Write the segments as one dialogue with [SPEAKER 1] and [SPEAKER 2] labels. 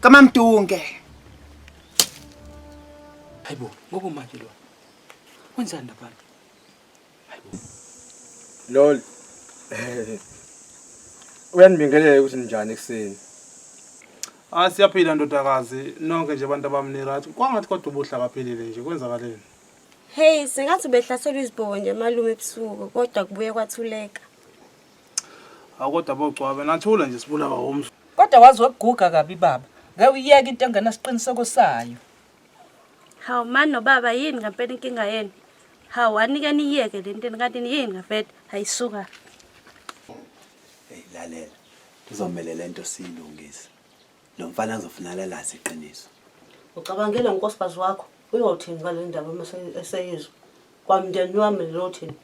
[SPEAKER 1] kamamdunge
[SPEAKER 2] hayibo ngoba manje lo wenzani labantu hayibo
[SPEAKER 3] lol uyanibingelela ukuthi ninjani ekuseni
[SPEAKER 4] Ah siyaphila ndodakazi nonke nje abantu abamni right kwangathi kodwa ubuhla kaphilile nje kwenzakaleni Hey,
[SPEAKER 5] sengathi ubehlaselwa izibhobo nje malume ebusuku kodwa kubuye kwathuleka.
[SPEAKER 4] Akodwa bogcwabe nathula nje sibulawa womso. Kodwa wazi wakuguga
[SPEAKER 6] kabi baba. Ngeke uyeke into engenasiqiniseko sayo.
[SPEAKER 5] Hawu mani nobaba yini ngampela inkinga yenu? Hawu anike niyeke le nto kanti yini ngampela? Hayi suka.
[SPEAKER 7] Hey lalela. Kuzomele le nto siyilungise. Lo mfana azofuna lalazi iqiniso. Ucabangela
[SPEAKER 8] unkosikazi wakho uyothini ngale ndaba uma eseyizwa? Kwamndeni wami lothini?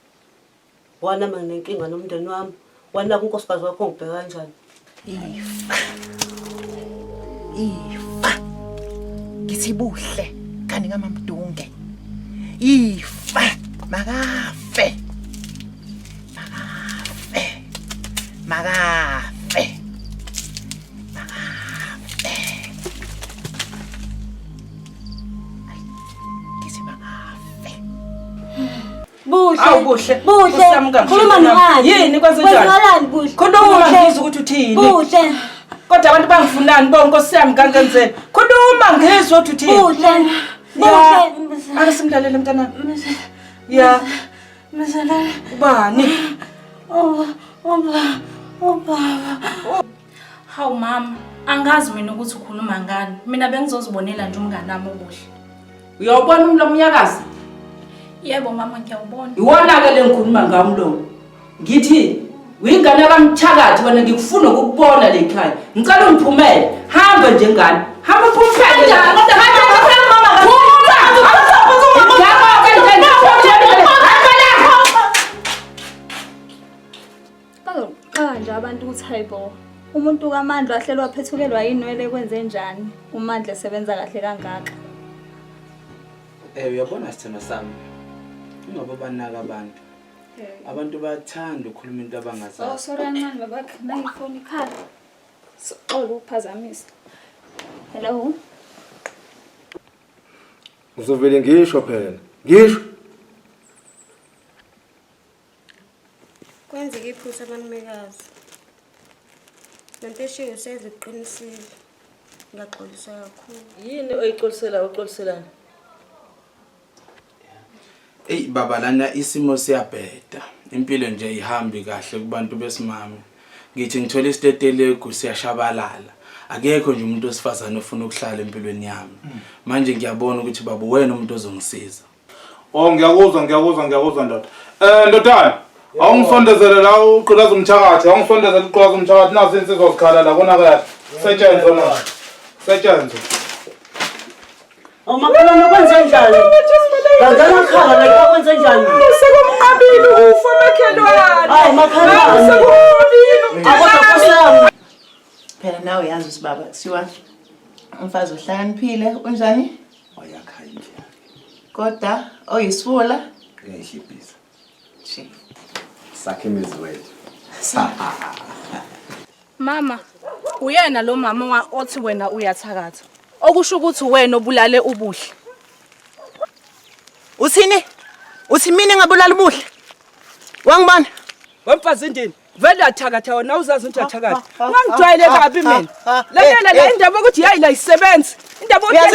[SPEAKER 8] Wana mina nenkinga nomndeni wami. Wana kunkosikazi wakho ngibheka kanjani?
[SPEAKER 1] Ifa. Ifa. Ngithi buhle kanti ngamamdunge. Ifa makafe. Makafe. Makafe. Makafe. Ay,
[SPEAKER 6] ngithi makafe. Buhle buhle buhle khuluma nomani yini
[SPEAKER 8] kwenzenjani
[SPEAKER 6] buhle khuluma
[SPEAKER 8] ngizwe ukuthi
[SPEAKER 6] uthini buhle
[SPEAKER 8] kodwa abantu
[SPEAKER 6] bangifunani bo nkosi yami kankenzeni khuluma ngizwe ukuthi uthini buhle
[SPEAKER 8] buhle
[SPEAKER 6] ake simlalele mntana ya
[SPEAKER 8] mzalala ubani oh oh oh Hawu
[SPEAKER 9] mama, angazi mina ukuthi ukhuluma ngani. Mina bengizozibonela nje umngane wami okuhle. Uyawubona
[SPEAKER 6] umlomo uyakazi? Yebo
[SPEAKER 9] mama ngiyawubona. Iwona-ke le ngikhuluma
[SPEAKER 6] ngawo umlomo. Ngithi uyingane kamthakathi wena ngikufuna ukukubona le khaya. Ngicela ungiphumele. Hamba nje ngane. Hamba uphumele. Kanjani? Kodwa hamba hamba mama. Phuma! Awusaphuthuma.
[SPEAKER 10] Bazoqala nje abantu ukuthi hayibo umuntu kaMandla wahleli waphethukelwa yinwele kwenze njani uMandla esebenza kahle kangaka. Eh
[SPEAKER 2] uyabona sithando sami. Ingoba banaka abantu. Abantu bayathanda ukukhuluma into abangazazi. Oh sorry ancane
[SPEAKER 10] babakhe nayi phone ikhala. Sixola ukuphazamisa. Hello.
[SPEAKER 3] Uzovele ngisho phela. Ngisho.
[SPEAKER 5] Kwenzeke iphutha abanumekazi. Lempesheni usedla uqinisile. Ngiyaxolisa kakhulu. Yini oyixolisela
[SPEAKER 6] uxoliselana?
[SPEAKER 2] Ey baba lana isimo siyabheda. Impilo nje ihambi kahle kubantu besimame. Ngithi ngithola isitetelegu siyashabalala. Akekho nje umuntu wesifazane ofuna ukuhlala empilweni yami. Manje ngiyabona ukuthi baba wena umuntu ozongisiza. Oh
[SPEAKER 4] ngiyakuzwa ngiyakuzwa ngiyakuzwa ndoda. Eh ndodana awungisondezele la uqulaza umthakathi awungisondezele uqulaza umthakathi nazi insizwa zikhala la kona kahle. Setshenzwe manje. Setshenzwe. Awumakhelwane
[SPEAKER 8] kwenze njani? Ngangena khala la kwenze njani? Sekumqabile
[SPEAKER 6] ukufa makhelwane. Hayi makhelwane.
[SPEAKER 8] Sekumqabile
[SPEAKER 6] umqabile.
[SPEAKER 8] Phela
[SPEAKER 1] nawe yazi usibaba kusiwa umfazi ohlakaniphile unjani? wayakha
[SPEAKER 7] indlu yakhe kodwa
[SPEAKER 1] oyisifula uyayishibhisa Shame.
[SPEAKER 7] sakhe imizi wethu
[SPEAKER 9] Mama, uyena lo mama wa- othi wena uyathakatha. Okusho ukuthi wena obulale ubuhle.
[SPEAKER 1] Uthini? Uthi mina ngabulala ubuhle? Wangibona? Wemfazi
[SPEAKER 6] indini. vele uyathakatha wena awuzazi ukuthi uyathakatha ungangijwayele kabi mina lalela la indaba yokuthi yayi la isebenzi
[SPEAKER 1] indaba yokuthi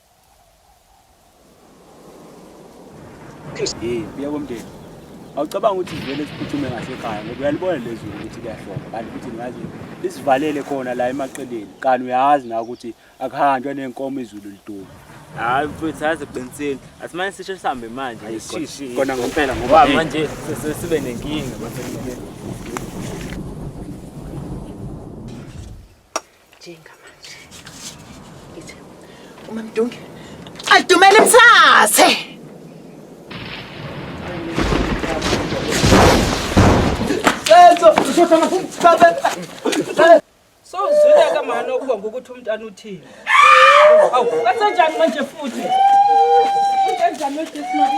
[SPEAKER 7] Hey, buya komndeni. Awucabanga ukuthi vele siphuthume ngasekhaya ngoba uyalibona lezulu ukuthi kuyahloma kanti futhi ngazi lisivalele khona la emaqeleni kanti uyazi na ukuthi akuhanjwa nenkomo izulu liduma. Hayi mfethu
[SPEAKER 11] hayi siqinisile. Asimane sisho sihambe manje. Ayishishi. Kona ngempela
[SPEAKER 7] ngoba Ngoba manje sese sibe
[SPEAKER 11] nenkinga manje.
[SPEAKER 1] njengamanje ngithi umamdunge adumele mthathe
[SPEAKER 6] sozwile ke mani okubonga ukuthi umntana uthini awu kasenjani manje futhi usenjani wejesmari